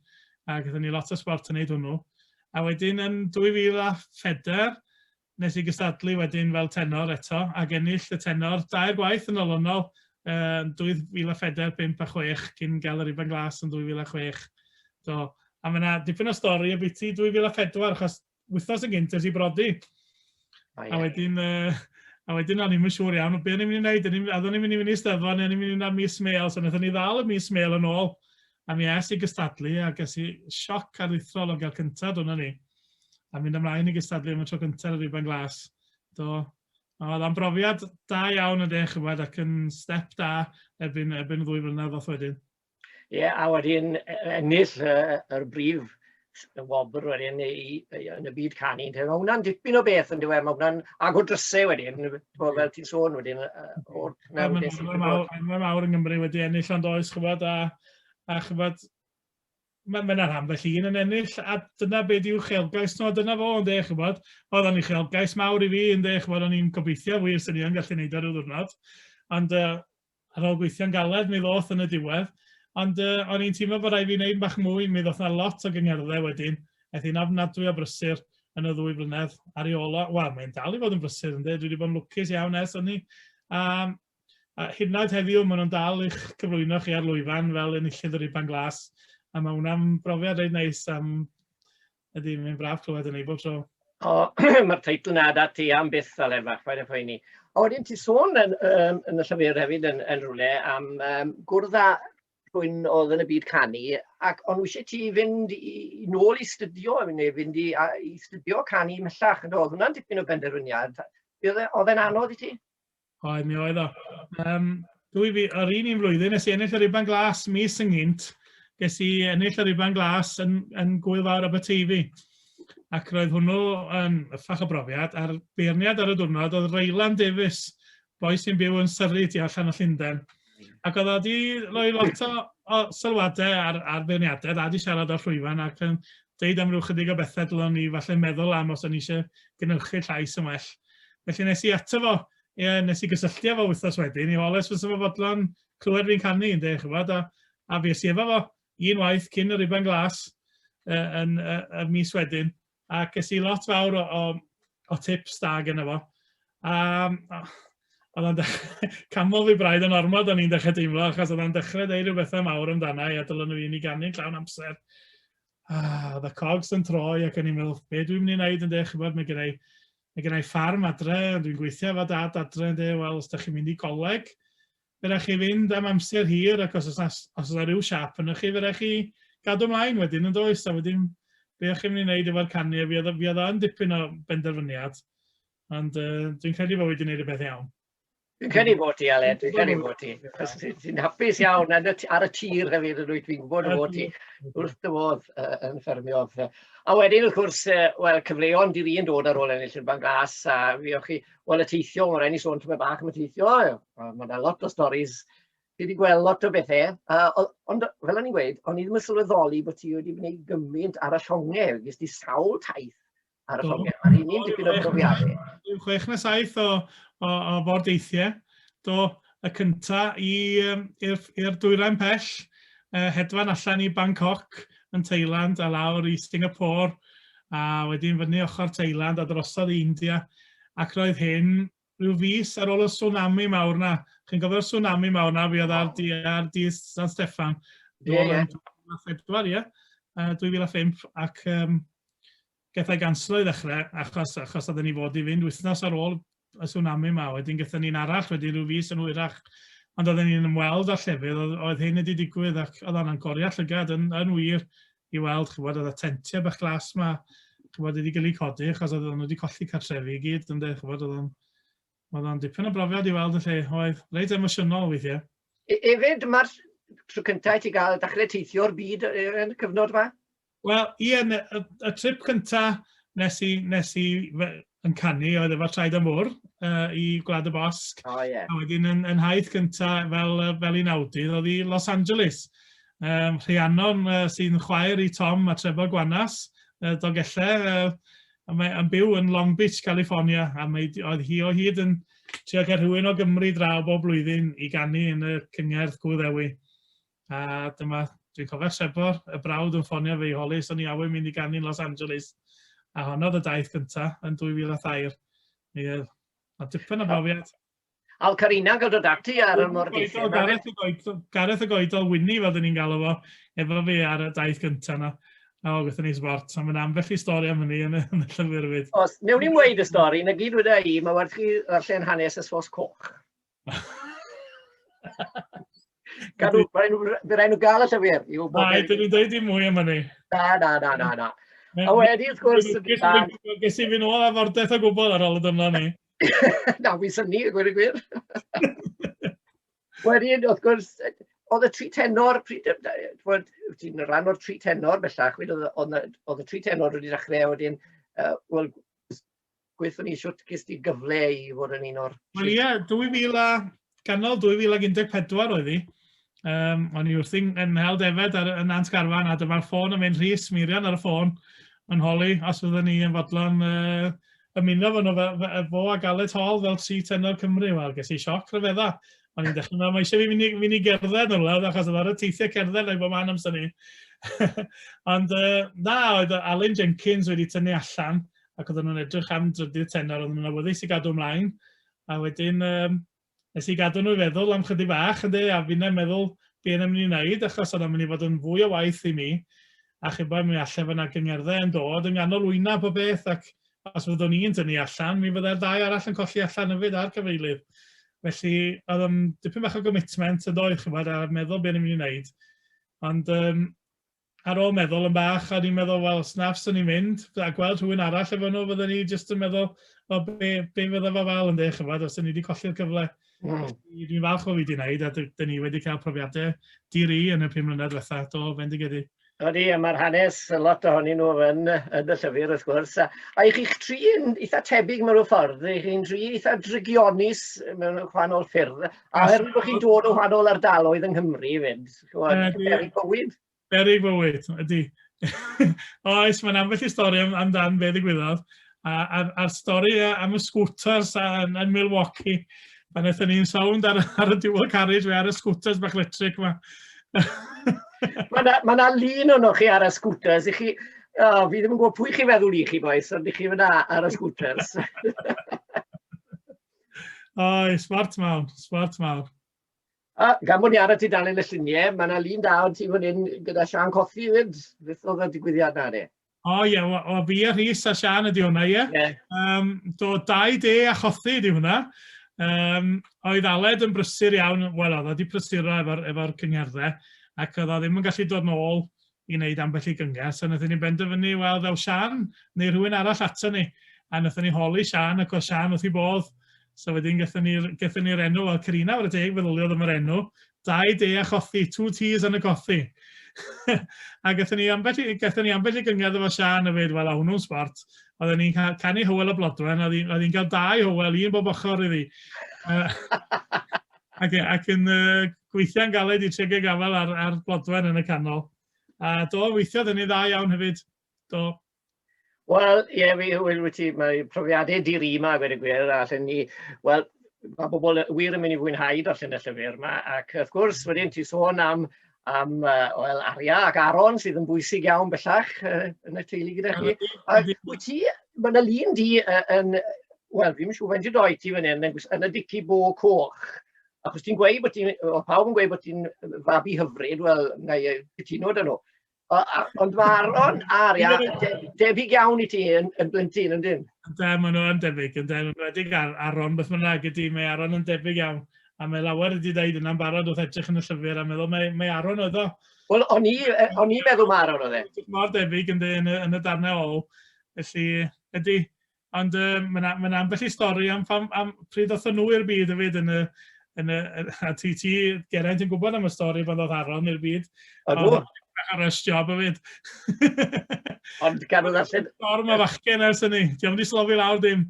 Ac oeddwn ni lot o sport yn neud hwnnw. A wedyn yn 2004, wnes i gystadlu wedyn fel tenor eto, ac ennill y tenor dair gwaith yn olynol, yn 2004, 5 a 6, cyn gael yr Ifan Glas yn 2006. Do. A mae yna dipyn o stori ambiti 2004, achos wythnos yn gynt es i brodi. A wedyn, uh, a wedyn o'n i'n siŵr iawn, be o'n i'n mynd i wneud, a oeddwn i'n mynd i fynd i steddfod, neu o'n i'n mynd i fynd am mis mail, so wnaethon ni ddal y mis mail yn ôl, A mi es i gystadlu a ges i sioc aruthrol o gael cyntaf, dyna ni. A mynd ymlaen i gystadlu am y tro cyntaf ar y Rhuban Glas. Do, oedd o'n brofiad da iawn yn dech chymod ac yn step da erbyn, erbyn ddwy flynedd off wedyn. Ie, yeah, a wedyn e, e, ennill yr brif y wobr wedyn i, i, i, yn y byd canu, mae hwnna'n dipyn o beth yn dweud, mae hwnna'n agor drysau wedyn, bod fel ti'n sôn wedyn. Mae mawr, mawr yng Nghymru wedi ennill ond oes chyfod a, a chyfod, mae'n ma rhan felly un yn ennill a dyna beth yw chelgais nhw, dyna fo yn dech chybod, oedd o'n i chelgais mawr i fi yn dech chybod, o'n i'n gobeithio wir sy'n i'n gallu neud ar y ddwrnod, ond uh, Ar ôl gweithio'n galed, mi ddoth yn y diwedd, ond o'n i'n teimlo bod rhaid fi wneud bach mwy, mi ddoth 'na lot o gyngerddau wedyn, aeth hi'n ofnadwy o brysur yn y ddwy flynedd ar ei ôl o, wel mae'n dal i fod yn brysur yndi, dwi wedi bod yn lwcus iawn ers hynny, a, a hyd yn oed heddiw maen nhw'n dal i'ch cyflwyno chi ar lwyfan fel enillydd yr Iban Glas, a mae hwnna'n brofiad reit neis am Ydy, mae'n braf clywed yn ei bob tro. O, mae'r teitl na da ti am byth fel efa, chwaer y phoeni. O, wedyn ti sôn yn, um, yn y llyfr hefyd yn, yn rhywle am um, gwrdd â rhywun oedd yn y byd canu, ac ond wysi ti fynd i, i nôl i studio, neu fynd i, a, i studio canu mellach, oedd hwnna'n dipyn o benderfyniad. Oedd e, e'n anodd i ti? Oedd, mi oedd o. Um, dwi fi, yr un un flwyddyn, nes i ennill yr Iban Glas mis yn gynt, nes i ennill yr Iban Glas yn, yn Gwyl Fawr Aberteifi. Ac roedd hwnnw yn ffach o brofiad, a'r beirniad ar y diwrnod oedd Raylan Davies, boi sy'n byw yn Surrey tu allan o Llundain. Ac oedd o wedi rhoi lot o, o sylwadau ar, ar feirniadaeth, a wedi siarad â Rhwyfan ac yn dweud am ryw chydig o bethau dylwn ni falle meddwl am os o'n ni eisiau gynhyrchu llais yn well. Felly nes i ato fo, ie, nes i gysylltu efo wythnos wedyn, i oles fy sefydlon clywed fi'n canu, yn dech, chybod, a, a fi esi efo fo, un waith cyn y riban glas, uh, yn uh, y mis wedyn. A ges i lot fawr o, o, o tips da gyda fo. A oedd o'n dechrau, canmol fi braidd yn ormod o'n i'n dechrau deimlo, achos oedd o'n dechrau dweud rhywbethau mawr amdana i, a dylwn nhw i ni gannu'n llawn amser. A, oedd y cogs yn troi ac o'n i'n meddwl, be dwi'n mynd i wneud yn dech, chybod, mae gennau, mae gennau ffarm adre, dwi'n gweithio efo dad adre yn dech, wel, os da chi'n mynd i goleg, Fe rai chi fynd am amser hir ac os oes 'na os oes 'na ryw siâp ynoch chi fe rai chi gadw mlaen wedyn yn does? A wedyn be o'ch chi'n mynd i wneud efo'r canu a fi oedd fi oedd o'n dipyn o benderfyniad ond uh, dwi'n credu bod wedi gwneud y peth iawn. Dwi'n credu bod ti, Aled, dwi'n credu bod ti. Chos ti'n hapus iawn ar y tir hefyd yn wyt, fi'n gwybod bod ti wrth dy fodd uh, yn ffermio. A wedyn, wrth gwrs, uh, wel, cyfleon di'r un dod ar ôl ennill yn fan glas, a fi o'ch chi, Wel y teithio o ren i sôn tymed bach am y teithio, mae yna lot o storys, fi wedi gweld lot o bethau, uh, ond fel o'n i'n gweud, o'n i ddim yn sylweddoli bod ti wedi gwneud gymaint ar y llongau, gys ti sawl taith ar y llongau, mae'n un ni'n dipyn o brofiadau. Dwi'n chwech na saith o, o, o ford eithiau, do, y cynta i yym i'r i'r dwyrain pell, yy hedfan allan i Bangkok yn Thailand a lawr i Singapore a wedyn fyny ochr Thailand a drosodd i India ac roedd hyn rhyw fis ar ôl y tsunami mawr 'na. Chi'n cofio'r tsunami mawr 'na fuodd ar di ar di San Steffan? Ie ie. Pedwar ie? Yy 2005 ac yym Gath e ganslo i ddechrau, achos, achos oedden ni fod i fynd wythnos ar ôl y tsunami 'ma, wedyn gaethon ni un arall, wedyn rhyw fis yn hwyrach, ond oedden ni'n ymweld â llefydd oedd, oedd hyn wedi digwydd ac oedd hwnna'n goriad llygad yn, yn wir i weld, ch'bod, oedd y tentiau bach glas 'ma, ch'bod, wedi cael eu codi achos oedden nhw wedi colli cartrefi i gyd, ynde, ch'bod, oedd o'n, oedd o'n dipyn o brofiad i weld y lle, oedd reit emosiynol weithiau. Hefyd, mae'r tro cyntaf i ti gael dechrau teithio'r byd yn y cyfnod yma? Wel, ie, y, y trip cynta nes i, nes i yn canu oedd efo Traed am Fwr uh, i Gwlad y Bosg. O, oh, ie. Yeah. A wedyn yn, yn haith cynta fel, fel un awdydd oedd i Los Angeles. Um, Rhiannon uh, sy'n chwaer i Tom a Trevor Gwanas, uh, Dogellau, uh, a mae yn byw yn Long Beach, California, a mae, oedd hi o hyd yn trio cael rhywun o Gymru draw bob blwyddyn i ganu yn y cyngerdd Gwyddewi. A dyma, dwi'n cofio Sebor, y brawd yn ffonio fi i holi os o'n i awydd mynd i ganu'n Los Angeles. A honno oedd y daith gynta yn 2003. Mi oedd a dipyn o brofiad. Al Carina gael dod ati ar y mor dipyn. Gareth y goedol, Gareth y goedol Winnie fel dyn ni'n galw fo, efo fi ar y daith gynta na. A o, gyda ni sbort, a mae'n ambell i stori am hynny yn y, yn y llyfr fyd. Os, newn ni'n weid y stori, na gyd wedi i, mae werth chi ddarllen hanes y sos coch. Gadw, fe rhaid nhw gael y llyfr. Mae, dyn nhw'n dweud i mwy am hynny. Na, na, na, na, na. A wedi, wrth gwrs... Ges i fynd ôl a fordeth o gwbl ar ôl y dyma ni. Na, fi syni, y gwir y gwir. Wedyn, wrth gwrs, oedd y tri tenor, pryd bod ti'n rhan o'r tri tenor bellach, oedd y tri tenor wedi dechrau wedyn, uh, wel, gweithio ni shwt ges di gyfle i fod yn un o'r... Wel ie, 2000 a... ganol 2014 oedd hi. Um, o'n i wrthi'n yn hel defed ar, yn Nant Garfan a dyma'r ffôn yn mynd rhys, Mirian ar y ffôn yn holi os fydden ni yn fodlon uh, ymuno fo, fe, fe, fo a Galet Hall fel tri tenor Cymru. Wel, ges i sioc rhyfedda. O'n i'n dechrau meddwl, mae eisiau fi fynd mynd i gerdded yn wlad, achos oedd ar y teithiau cerdded neu bod man amser ni. Ond uh, na, oedd Alun Jenkins wedi tynnu allan ac oedden nhw'n edrych am drydydd tenor, oedden nhw'n awyddus i gadw ymlaen, a wedyn um, nes i gadw nhw i feddwl am chydig bach, ynddi, a fi'n meddwl be yn ymwneud i wneud, achos yna'n mynd i fod yn fwy o waith i mi, a chi'n bod, mi allai fod yna gyngerddau yn dod yn ganol wyna po beth, ac os fyddwn i'n dynnu allan, mi fyddai'r ddau arall yn colli allan yfyd ar gyfeilydd. Felly, oedd yn dipyn bach o gomitment yn doedd, chi'n bod, a meddwl beth ni'n mynd i wneud. Ond um, ar ôl meddwl yn bach, o'n i'n meddwl, wel, snaf, swn i'n mynd, a gweld rhywun arall efo nhw, fydden ni jyst yn meddwl, wel, be, be fydda fo fel yn dweud, chyfod, os o'n ni wedi colli'r cyfle. Mm. Dwi'n falch o fi wedi wneud, a dyn ni wedi cael profiadau diri yn y pum mlynedd diwetha, do, fendigedig. Ydy, a mae'r hanes, lot ohonyn nhw yn, yn y llyfr, wrth gwrs. A, a i chi'ch tri yn eitha tebyg mewn ffordd, i chi'n tri eitha drygionis mewn gwahanol ffyrdd, a oherwydd bod chi'n dod o wahanol ardaloedd yng Nghymru fyd. Chimod, berig bywyd. Berig bywyd, ydy. Oes, mae'n ambell i stori am, amdan be ddigwyddodd. A'r, a, stori am y scooters yn, yn Milwaukee. Pan eithon ni'n sawnd ar, ar y dual carriage fe ar y scooters bach electric yma. Mae yna ma lun o'n chi ar y scooters. I chi, oh, fi ddim yn gwybod pwy chi feddwl i chi, boes, ond i chi fyna ar y scooters. Oes, smart mawr, smart mawr. A gan bod ni ar y tudalen y lluniau, mae yna lun da o ti fan hyn gyda Siân Cothi 'fyd. Beth oedd y digwyddiad 'na de? O ie, o, o fi a Rhys a Siân ydi hwnna, ie. Ie. Yym, do, dau de a chothi ydi hwnna. Yym, oedd Aled yn brysur iawn, wel oedd o 'di prysuro efo'r efo cyngerddau, ac oedd o ddim yn gallu dod nôl i wneud ambell i gyngerdd. So naethon ni benderfynu, wel, ddaw Sian neu rhywun arall ato ni. A naethon ni holi Sian, ac oedd Sian wrth i bodd. So wedyn gyda ni'r ni enw, wel, Carina o'r deg, feddyliodd am yr enw. Dau de a chothi, two teas and a cothi. a gyda ni ambell, gyda ni ambell i gyngerdd efo Sian a fyd, wel, a hwnnw'n sport. Oedden ni'n canu Hywel y Blodwen, a oedd hi'n cael dau Hywel, un bob ochr iddi. Ac, ac yn uh, gweithiau'n galed i Tregear gafael ar, ar Blodwen yn y canol. A do, weithiodd yn ei dda iawn hefyd. Do. Wel, ie, yeah, fi hwyl wyt ti, mae profiadau dir i yma, gwed y gwir, a allan ni, wel, mae bobl wir yn mynd i fwynhau darllen y llyfr yma, ac wrth gwrs, wedyn ti sôn am am uh, well, Aria ac Aron sydd yn bwysig iawn bellach uh, yn y teulu gyda chi. Ac wyt ti, mae yna lun di uh, yn, wel, fi'n siŵr faint i doi ti fan hyn, yn, yn y dici bo coch. Ac os ti'n gweud bod ti'n, o pawb yn gweud bod ti'n fabi hyfryd, wel, na i cytuno dyn nhw. Ond mae Aron ar ia, debyg iawn i ti yn, yn blentyn, yn dyn? Da, maen nhw yn debyg, yn dyn, yn redig ar Aron, beth mae'n rhaid ydy, mae Aron yn debyg iawn. A mae lawer wedi dweud yna'n barod wrth edrych yn y llyfr a meddwl, mae, mae Aron oedd o. Wel, o'n i, o'n i meddwl mae Aron oedd e. Mor debyg yn, yn, yn y darnau ôl, felly, ydy, Ond um, mae'n ma na ambell i stori am, am, am pryd oedd nhw i'r byd fyd yn y, yn y, a ti, ti Geraint yn gwybod am y stori bod oedd Aron i'r byd. Ydw. Ar y job fyd. Ond gan oedd allan... Stori mae fachgen ers hynny. Di am di slofi lawr dim.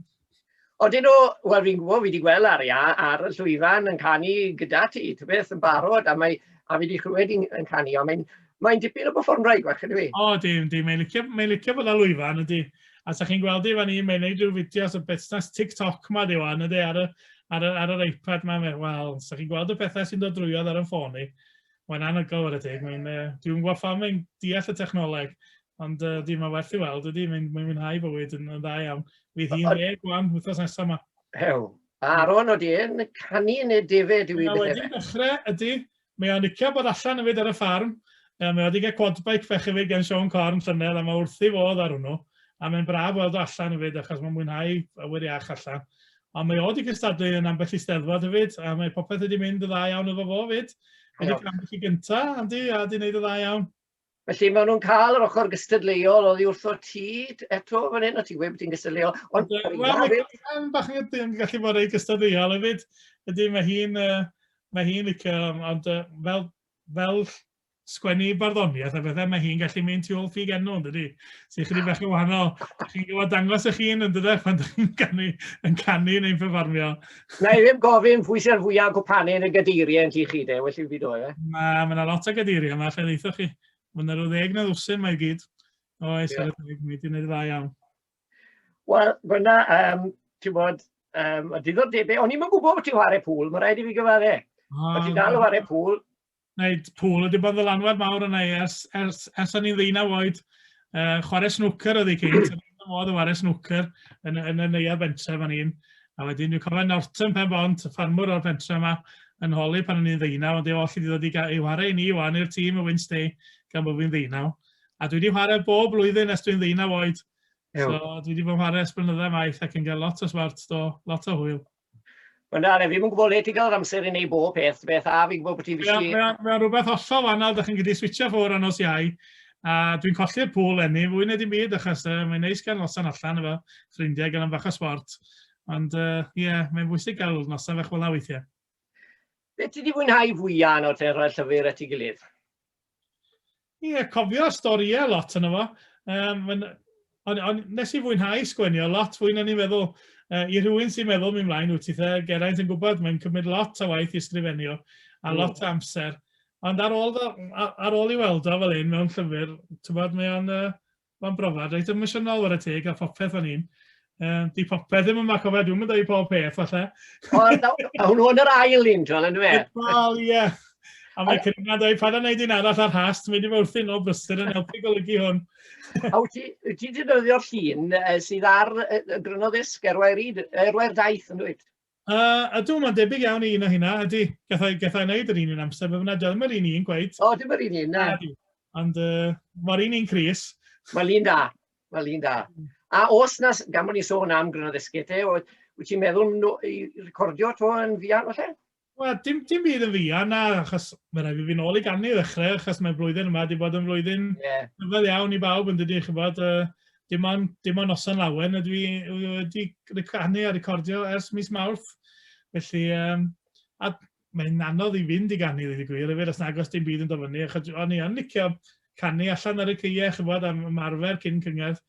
Odyn nhw, wel fi'n gwybod, fi wedi gweld ar ia, ar y llwyfan yn canu gyda ti, ty beth yn barod, a, mae, a fi wedi chlywed yn canu, ond mae'n Mae'n dipyn o performraig fach, ydy fi? O, di, di. Mae'n licio, mae licio bod â lwyfan, ydy. A sa chi'n gweld i fan i, mae'n neud rhyw fideos o busnes TikTok ma di wan, ydy, ar y, ar, y, ar yr iPad ma. Wel, sa chi'n gweld y pethau sy'n dod drwyodd ar y ffôn i. Mae'n anhygoel ar y teg. Mae'n, uh, dwi'n gwybod pha mae'n deall y technoleg. Ond uh, di, mae werth i weld, ydy, mae'n mae mwynhau bywyd yn, yn dda iawn. Fydd hi'n deg gwan, wythnos nesaf yma. Hew, Aaron, oeddi yn canu neu defe dwi wedi... Wedi dechrau, ydy, Mae o'n licio bod allan efyd ar y ffarm, yy mae o wedi cael quad bike fach hefyd gan Siôn Corn llynedd a mae wrthi fodd ar hwnnw, a mae'n braf weld o allan hefyd achos mae'n mwynhau awyr iach allan. Ond mae o wedi cystadlu yn ambell i steddfod hefyd a mae popeth wedi mynd yn dda iawn efo fo 'fyd. Mae 'di ca'l ambell i gynta', Andy, a 'di neud yn dda iawn. Felly maen nhw'n cael yr ochr gystadleuol oddi wrtho ti eto fan hyn, o ti wedi bod yn gystadleuol. Ond Wel, mae Cam bach yn ydyn gallu bod ei gystadleuol hefyd. Ydy, mae hi'n uh, mae hi'n licio, ond uh, fel, fel sgwennu barddoniaeth a bethau, mae hi'n gallu mynd tu ôl ffug enw, yn dydy? Sy'n chydig bach yn wahanol. Chi'n gwybod dangos eich hun, yn dydy, pan ydych chi'n canu, yn canu neu'n performio. Na i ddim gofyn pwy sy'r fwyaf cwpanu yn y gadeiriau yn ti chi de, well i fi do e. Mae yna lot o gadeiriau yma, lle ddeithoch chi. Mae yna rhyw ddeg na ddwsyn mae gyd. O, eis yeah. mae wedi gwneud dda iawn. Wel, fyna, um, ti'n bod, um, y diddordebau, o'n i'n gwybod bod ti'n chwarae pŵl, mae rhaid i fi gyfadde. Ah, ti'n dal o chwarae pŵl, Wneud pŵl wedi bod yn ddylanwad mawr yna i ers, ers, ers o'n i'n ddeunaw oed. Uh, chwarae snwcer oedd ei cynt, yn y modd o chwarae snwcer yn, yn y neuad bentref o'n i'n. A wedyn dwi'n cofio Norton pen bont, y ffarmwr o'r pentre yma, yn holi pan o'n i'n ddeunaw, ond ei oll i ddod i, i chwarae i ni wan i'r tîm y Wednesday gan bod fi'n ddeunaw. A dwi wedi chwarae bob blwyddyn ers dwi'n ddeunaw oed. So dwi wedi bod yn chwarae ers blynyddoedd maith ac yn cael lot o swart do, lot o hwyl. Wel na, na, fi'n gwybod le ti'n cael yr amser i wneud bob peth, beth a fi'n gwybod bod ti'n fysgu... Mae'n ma, rhywbeth hollol wahanol, da chi'n gyda switcha ffwr anos iau, a dwi'n colli'r pŵl enni, fwy na dim byd, achos uh, mae'n neis gael noson allan efo ffrindiau, gael am fach o sport. Ond ie, uh, yeah, mae'n bwysig gael noson fach fel weithiau. Beth ti wedi fwynhau fwyaf yn o'r te rhoi'r llyfr at ei gilydd? Ie, cofio storïau lot yna fo. Um, ond on, nes i fwynhau sgwenio lot fwy na ni'n meddwl. Uh, I rhywun sy'n meddwl mi'n mlaen wyt ti the, Geraint yn gwybod, mae'n cymryd lot o waith i ysgrifennu a lot o amser. Ond ar ôl, ar ôl i weld o fel un mewn llyfr, ti'n bod, mae o'n uh, Mae'n brofiad reit emosiynol ar y teg a phopeth o'n i'n. Um, di popeth ddim yma, cofio, dwi'n mynd i pob peth, falle. O, a hwnnw yn yr ail un, John, yn dweud? Wel, ie. A mae Cyrna dweud, paid â wneud un arall ar has, ti'n mynd i fod wrthyn nhw brysur yn helpu golygu hwn. a wyt ti wedi defnyddio'r llun sydd ar y grynodd esg erwai'r daith yn dweud? Yy, ydw, mae'n debyg iawn i un o hynna, ydy. Gallai, gallai wneud yr un un amser, fe fyna dyl, mae'r un un gwaith. O, dim yr un un, na. Ydy, ond uh, mae'r un un Cris. Mae'n un da, mae'n un da. Mm. A os na, gan bod ni'n sôn am gryn o ddysgu te, wyt ti'n meddwl no, i recordio to yn fian o lle? Wel, dim, dim byd yn fian na, achos mae'n rhaid i fi nôl i gannu ddechrau, achos mae'r blwyddyn yma wedi bod yn flwyddyn yeah. rhyfedd iawn i bawb yn dydy, chi'n bod, uh, dim ond, dim ond noson lawen ydw i wedi ricanu a recordio ers mis Mawrth. Felly, um, a mae'n anodd i fynd i ganu, ddweud y gwir, efo os nagos dim byd yn dofynu. Achos o'n i yn licio canu allan ar y ceie, chybod, am ymarfer cyn cyngerdd.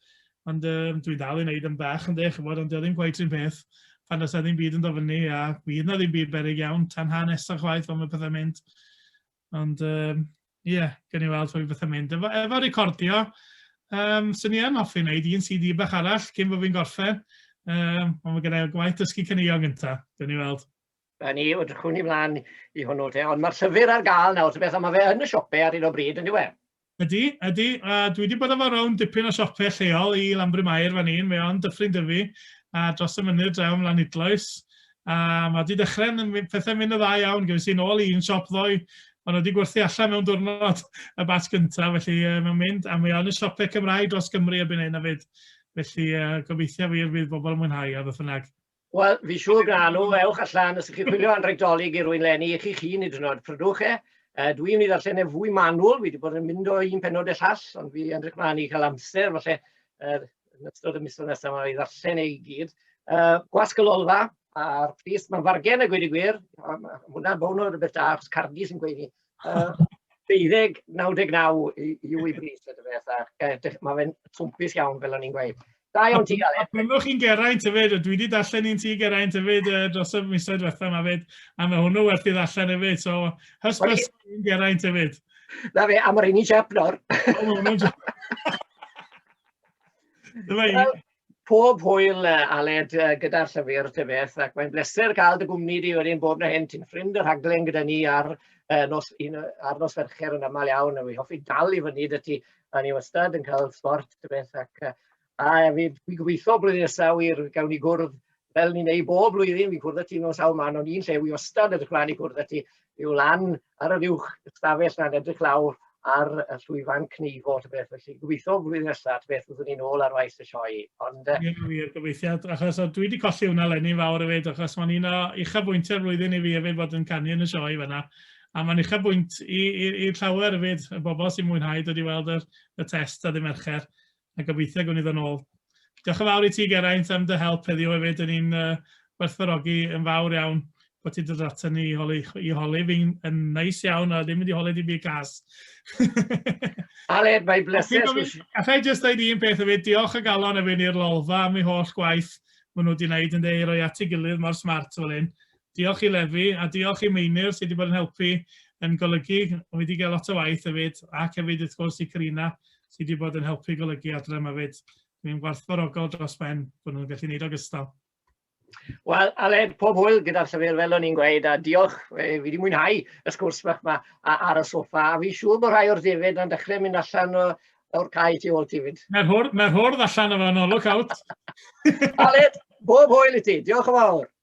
Ond um, dwi'n dal i wneud yn bach yn dech, chybod, ond ddim gwaith sy'n peth pan os na ddim byd yn dofynu a bydd na ddim byd berig iawn tan hanes a chwaith ond mae pethau'n mynd. Ond um, ie, yeah, gen i weld hwy beth yn mynd. Efo, efo recordio, um, sy'n ni yn hoffi wneud un CD bach arall cyn bod fi'n gorffen. Um, ond mae gennau gwaith dysgu cynnigion gyntaf, gen i weld. A ni, o drychwn i mlaen i hwnnw te, ond mae'r llyfr ar gael nawr, beth, mae fe yn y siopau ar un o bryd, yn diwedd. Ydy, ydy, a dwi 'di bod efo rownd dipyn o siope lleol i Lanbryn Mair fan un, mae o'n Dyffryn Dyfi, a dros y mynydd draw yn Lanidloes, a mae 'di dechrau yn mynd, pethau'n mynd yn dda iawn, gyfes i'n ôl i un siop ddoe, ond wedi gwerthu allan mewn diwrnod y batch gyntaf, felly uh, mae'n mynd, a mae o'n y siopau Cymraeg dros Gymru erbyn hyn hefyd, felly uh, gobeithio wir fydd bobl yn mwynhau a beth bynnag. Wel, fi siŵr gan nhw, ewch allan, os ydych chi'n chwilio anrheg dolyg i rwy'n lenni i chi'ch hun i drynod, prydwch e. Uh, dwi yn ei ddarllen e fwy manwl, fi wedi bod yn mynd o un penod y llall, ond fi yn rhaid mlaen i cael amser, falle, uh, yn ystod y misoedd nesaf yma i ddarllen ei gyd. Uh, gwasg y lolfa, a'r pris, mae'n fargen a gweud y gwir, hwnna'n bown o rhywbeth da, achos cardi sy'n gweud ni, deuddeg, 99 yw ei bris y dyfeth, ac mae fe'n twmpus iawn fel o'n i'n gweud. Da iawn ti, Aled. A byddwch chi'n Geraint hefyd, dwi wedi darllen un ti Geraint hefyd uh, dros y misoedd diwethaf yma hefyd, a mae hwnnw werth i ddarllen hefyd, so hysbys un Geraint hefyd. Na fe, a mae'r un i Jep nawr. Dyma i. pob hwyl uh, Aled uh, gyda'r llyfr dy beth ac mae'n bleser cael dy gwmni di wedyn bob na hyn ti'n ffrind y rhaglen gyda ni ar uh, nos, un, ar nos fercher yn aml iawn a fi hoffi dal i fyny dy ti a ni wastad yn cael sport dy beth ac uh, a fi, fi gobeithio blwyddyn nesaf wir gawn ni gwrdd fel ni'n ei bob blwyddyn, fi'n cwrdd â ti mewn sawl man, ond un lle wi ostad edrych mlaen i cwrdd â ti yw lan ar yr uwch ystafell na'n edrych lawr ar y llwyfan cneifo, ta beth, felly gobeithio flwyddyn nesaf, ta beth, byddwn ni'n ôl ar waith y sioe. Ond... Uh... Ie, wir, gobeithio, achos dwi wedi colli hwnna lenni'n fawr hefyd, achos mae'n un o uchafbwyntiau'r flwyddyn i fi hefyd bod yn canu yn y sioe fanna. A mae'n uchafbwynt i'r llawer hefyd, y bobl sy'n mwynhau dod i weld y, y test a ddim ercher. A gobeithio gwn i ddod nôl. Diolch yn fawr i ti Geraint am dy help heddiw hefyd, yn i'n uh, werthfarogi yn fawr iawn bod ti dod ato ni i holi, i holi fi'n yn neis iawn a ddim wedi holi dim byd gas. Ale, mae bleser. Alla i just dweud un peth hefyd, diolch y galon efo i'r lolfa am ei holl gwaith maen nhw wedi gwneud yn dweud roi at ei gilydd mor smart fel hyn. Diolch i Levi, a diolch i Meinir sydd wedi bod yn helpu yn golygu, mae wedi cael lot o waith hefyd, ac hefyd wrth gwrs i Karina sydd wedi bod yn helpu golygu adre yma hefyd. Dwi'n gwarthfawrogol dros ben bod nhw'n gallu gwneud ogystal. Wel, Aled, pob hwyl gyda'r llyfr fel o'n i'n gweud, a diolch, fi wedi mwynhau y sgwrs bach yma ar y soffa, a fi siŵr bod rhai o'r defyd yn dechrau mynd allan o, o'r cae ti ôl ti fyd. Mae'r hwrdd, mae hwrdd allan o fan olwg out. Aled, bob hwyl i ti, diolch yn fawr.